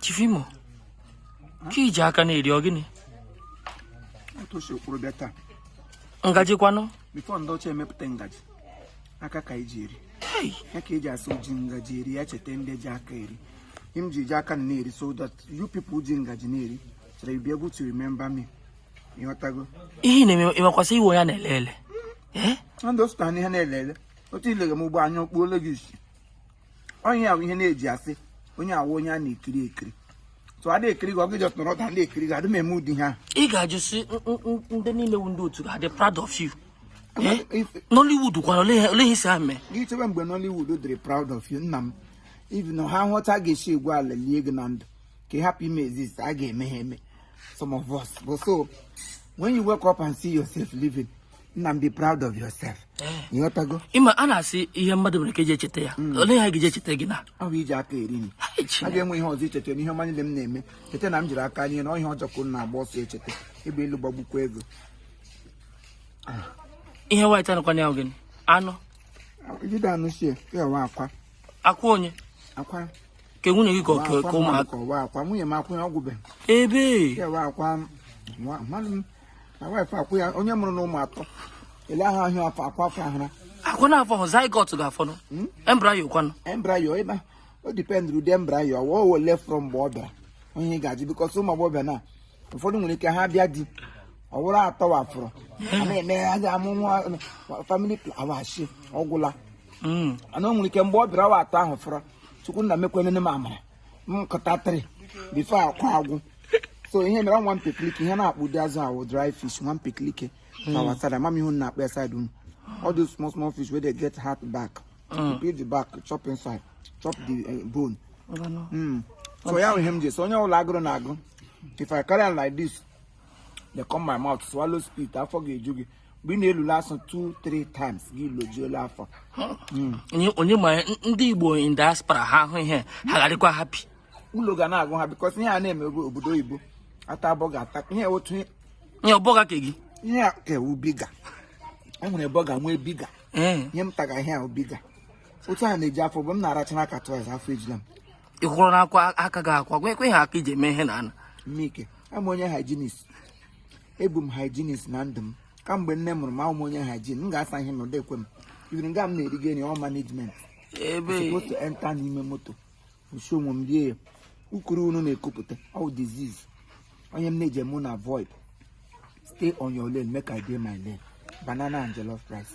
Chief Imo, ka iji aka na-eri ọ gịnị? Otu o si kwuru bịa taa, Ngaji kwanụ? before ndị ọcha emepụta ngaji, aka ka eji eri. Hey, Ya ka eji asị o ji ngaji eri, ya cheta ndị ji aka eri. Ihe m ji ji aka na-eri so that you people ji ngaji na-eri, so that you be able to remember me. Ịghọtago? ihe ị na-eme ị makwa sị ị wụ ihe a na-ele ele. Eh? Ndị o sụtara n'ihe na-ele ele, otu i lere m ugbua anya okpuole gị isi. ọ ya wụ ihe a na-eji asị onye a wụ onye a na-ekiri ekiri so a na-ekiri gị ọ gị just nọrọ otu a na-ekiri gị adị m eme ụdị ihe ahụ ị ga-ajụ si "N- n- n- ndị niile wu ndị otu ga-adị proud of you Eh? If- Nollywood kwara olee ihe- olee ihe ị sị ha mee gị chebe mgbe Nollywood dịrị proud of you nna m even na ha hụ otu a ga-esi egwu ala lie gị na ndụ ka ị hapụ ime exist a ga-eme ha eme some of us but so when you wake up and see yourself living nna m be proud of yourself ịghọtago ị ma a na-asị ihe mmadụ nwere ike eji echeta ya olee ihe a ga-eji echeta gị na ọ bụ iji aka eri nri Hai, a Chineke. ga-enwe ihe ọzọ icheta n'ihe ọma niile m na-eme cheta na m jiri aka rie na ihe ọjọọ ka unu na-agba ọsọ echeta egbe elu gbagbukwa gị o ihe white a nọkwa na ya ọ gịnị anụ jide anụ sie ka ọ wụ akwa akwa onye akwa ke nwunye gị ka ọ- ka- ka ụmụaka ọ wụ akwa nwunye m akwa ya ọ gwụbeghị ebe ka ọ wụ akwa nwa- mmadụ m na wife akwa ya onye mụrụ na ụmụ atọ ele ahụ ahụ afọ akwa afọ ahụra akwa na afọ hụ zygote ga-afọnụ hmm? embryo kwanụ embryo ịba ọ dependịrị ụdị embryo ọ wụ ole fọrọ mgbe ọ bịara onye ga-ajụ because ụmụ agbọghọbịa na ụfọdụ nwere ike ha bịa di ọ wụrụ atọ ahụ fọrọ na-eme ya ga amụ nwa family plawashi ọgwụla hmm. ana o nwere ike mgbe ọ bịara ọ wụ atọ ahụ fọrọ chukwu nna mekwenene m amara m kuta three before akwa agwụ so ihe mere nwa mpekilike ihe a na-akpọ ụdị azụ ahụ dry fish nwa mpekilike na hmm. our side mama ihe a na-akpọ ya side unu all those small small fish wey dey get hard back hmm. peel the back chop inside chop the eh, bone hmm. so ya ihe m ji so onye ọbụla agụrụ na-agụ if i carry am like this dey come my mouth swallow spit afọ ga-eju gị mgbe ị na-elule asụ 2 3 times gị lojuola afọ Onye- onye ma n- ndị igbo in diaspora ha ahụ ihe ha ga-adịkwa happy ụlọ ga na-agụ ha because ihe a na-eme bụ obodo oyibo ata burger ata ihe otu ihe- ihe ọ burger ka gị ihe a ka ọ wụ bigger e nwere burger nwee bigger ee ihe m taga ihe a wụ bigger otu a na-eji afọ bụ m na-aracha n'aka twice afọ ejila m ị kwụrụ n'akwa aka gị akwa gwa ekwe ha aka iji eme ihe na ana mme ike awụ m onye hygienist abụ m hygienist na ndụ m kamgbe nne mụrụ m awụ m onye hygiene m ga-asa ihe n'ụdị ekwe m even nga m na-eriga nri ọ management ebe supposed to enter n'ime moto nsi onwe m rie ya ukuru unu na-ekupụta ọ bụ disease ọ ya m na-eji eme unu avoid stay on your lane make i dey my lane banana and jollof rice